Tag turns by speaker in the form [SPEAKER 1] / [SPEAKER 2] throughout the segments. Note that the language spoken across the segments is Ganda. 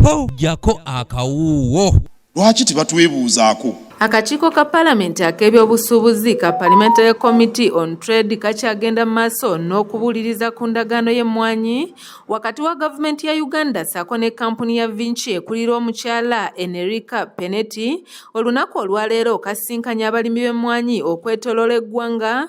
[SPEAKER 1] Tojjako akawuuwo. Lwaki
[SPEAKER 2] tebatwebuuzaako? Akakiiko ka
[SPEAKER 3] palamenti ak'ebyobusuubuzi ka Parliamentary Committee on Trade kakyagenda mu maaso n'okubuuliriza ku ndagaano y'emmwanyi wakati wa gavumenti ya Uganda ssaako ne kkampuni ya Vinci ekulira omukyala Enerica Penetti olunaku olwaleero kasisinkanye abalimi b'emmwanyi okwetoloola eggwanga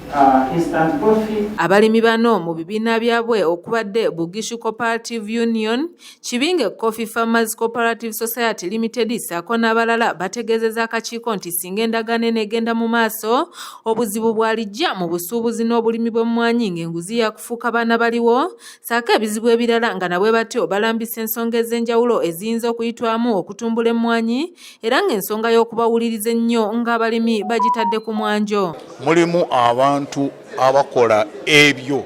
[SPEAKER 4] Abalimi bano mu
[SPEAKER 3] bibiina byabwe okubadde Bugishu Cooperative Union, Kibinge Coffee Farmers Cooperative Society Limited ssaako n'abalala bategeezezza akakiiko nti singa endagaano eno egenda mu maaso obuzibu bwalijja mu busuubuzi n'obulimi bw'emmwanyi ng'enguzi yakufuuka baana baliwo saako ebizibu ebirala nga nabwe batyo balambisa ensonga ez'enjawulo eziyinza okuyitwamu okutumbula emmwanyi era ng'ensonga y'okubawuliriza ennyo ng'abalimi bagitadde ku mwanjo mulimu
[SPEAKER 5] abantu abakola ebyo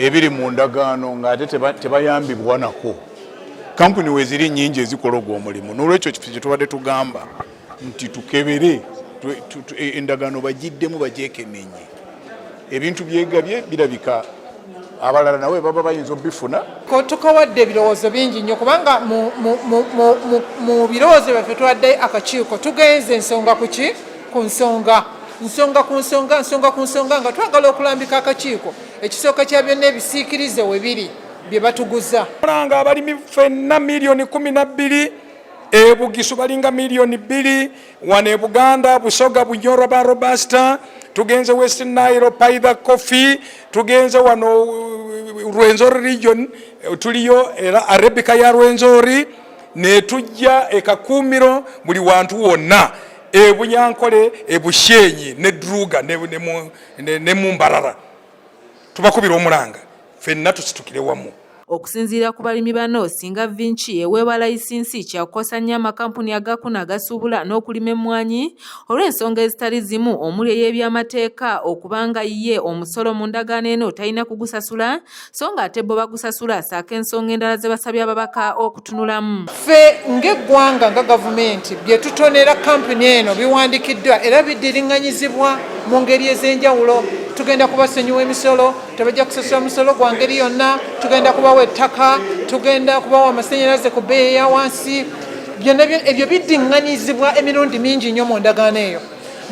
[SPEAKER 5] ebiri mu ndagaano ng'ate tebayambibwa nako kampuni weziri nyingi ezikola ogwo omulimu n'olwekyo kifo kye tubadde tugamba nti tukebere e, endagaano bagiddemu bagyekenenye ebintu byegabye birabika abalala nawe baba bayinza obifuna tukawadde
[SPEAKER 6] ebirowoozo bingi nnyo kubanga mu birowoozo byaffe tuwadde akakiiko tugenze ensonga kuki ku nsonga nsonga ku nsonga nsonga ku nsonga nga twagala okulambika akakiiko ekisooka kya byonna ebisiikirize we biri bye batuguza olanga abalimi
[SPEAKER 7] fenna miliyoni kumi na bbiri e Bugisu balinga miliyoni bbiri, wano e Buganda Busoga Bunyoro ba Robusta, tugenze West Nile Paida Coffee, tugenze wano uh, Rwenzori region uh, tuliyo era Arabica ya Rwenzori, netujja e Kakumiro buli wantu wonna e Bunyankole e Bushenyi ne Druga ne, ne, ne, ne Mumbarara tubakubira omulanga fenna tusitukire wamu okusinziira ku
[SPEAKER 3] balimi bano singa vinci eweebwa layisinsi kyakukosa nnyo amakampuni agakuna agasuubula n'okulima emmwanyi olw'ensonga ezitali zimu omuli ey'ebyamateeka okubanga ye omusolo mu ndagaano eno talina kugusasula so ng'ate bo bagusasula saako ensonga endala ze basabye ababaka oku tunulamu ffe
[SPEAKER 6] ng'eggwanga nga gavumenti bye tutonera kampuni eno biwandikiddwa era bidiringanyizibwa mu ngeri ez'enjawulo tugenda kubasonyiwa emisolo tebajja kusasula musolo gwa ngeri yonna tugenda kubawa ettaka tugenda kubawa amasanyalaze ku bbeeyi ya wansi byonna ebyo bidiringanyizibwa emirundi mingi nnyo mu ndagaano eyo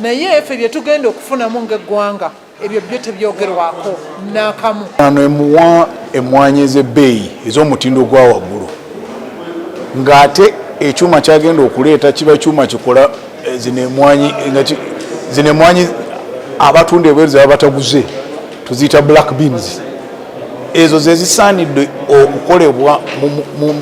[SPEAKER 6] naye ffe bye tugenda okufunamu ng'eggwanga ebyo byo tebyogerwako nakamu. Ano emuwa
[SPEAKER 5] emwanyi ez'ebbeeyi ez'omutindo gwa waggulu ng'ate ekyuma kyagenda okuleeta kiba kyuma kikola eh, zino emwanyi zino emwanyi abatunda ebweru zebaba bataguze tuziyita black beans ezo zezisaanidde okukolebwa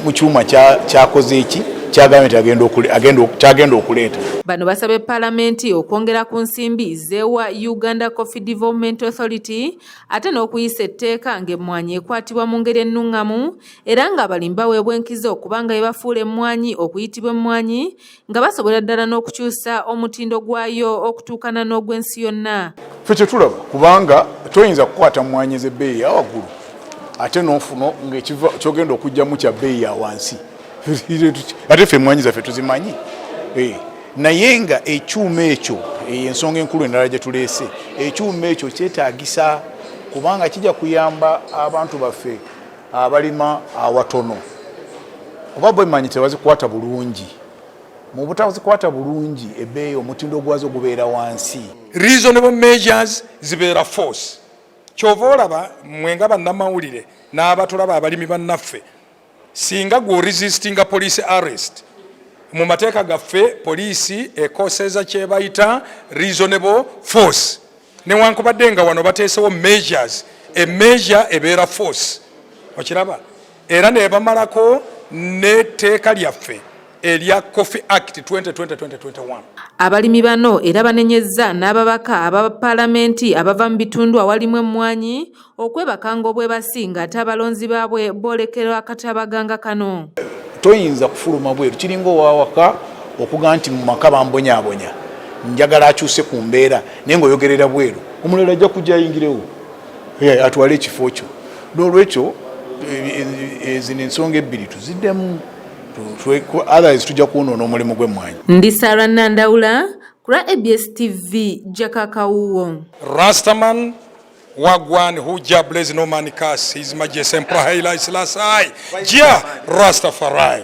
[SPEAKER 5] mu kyuma kyakoze eki kyagenda okuleeta bano basabye
[SPEAKER 3] palamenti okwongera ku nsimbi zewa uganda coffee development authority ate n'okuyisa etteeka ng'emmwanyi ekwatibwa mu ngeri ennuŋŋamu era ng'abalimi baweebwa enkizo okubanga ebafuula emmwanyi okuyitibwa emmwanyi nga basobola ddala n'okukyusa omutindo gwayo okutuukana n'ogw'ensi yonna fe kyetulaba
[SPEAKER 5] kubanga toyinza kukwata mmwanyi ez'ebbeeyi ya waggulu ate n'ofuna ngaekyogenda okugyamu kya bbeeyi ya wansi ate fe emmwanyi zaffe tuzimanyi eh, naye nga ekyuma ekyo eyo ensonga enkulu endala gye tuleese ekyuma ekyo kyetaagisa kubanga kijja kuyamba abantu baffe abalima awatono kuba bwemanyi tebazikwata bulungi mu butazikwata bulungi ebbeeyi omutindo gwazo gubeera wansi reasonable
[SPEAKER 7] measures zibeera force kyova olaba mwe nga bannamawulire n'abatulaba abalimi bannaffe singa gwe oresistinga police arrest mu mateeka gaffe poliisi ekoseeza kyebayita reasonable force newankubadde nga wano bateesewo measures e measure ebeera force okiraba era nebamalako n'etteeka lyaffe erya coffee act 202021 abalimi
[SPEAKER 3] bano era banenyezza n'ababaka aba palamenti abava mu bitundu awalimu emmwanyi okwebaka ng'obwebasi ng'ate abalonzi baabwe boolekera akatabaganga kano toyinza
[SPEAKER 5] kufuluma bweru kiringa owawaka okuga nti mu maka bambonyabonya njagala akyuse ku mbeera naye ngaoyogerera bweru omulala ajja kujja ayingirewo atwale ekifo kyo n'olwekyo ezino ensonga ebbiri tuziddemu otherwise tujja kwonoona omulimu gw'emmwanyi ndi sara
[SPEAKER 3] nandawula kula abs tv jakakawuwo rastaman
[SPEAKER 7] Wagwan Huja Blaze Norman Kasi His Majesty Emperor Haile Selassie Jah Rastafari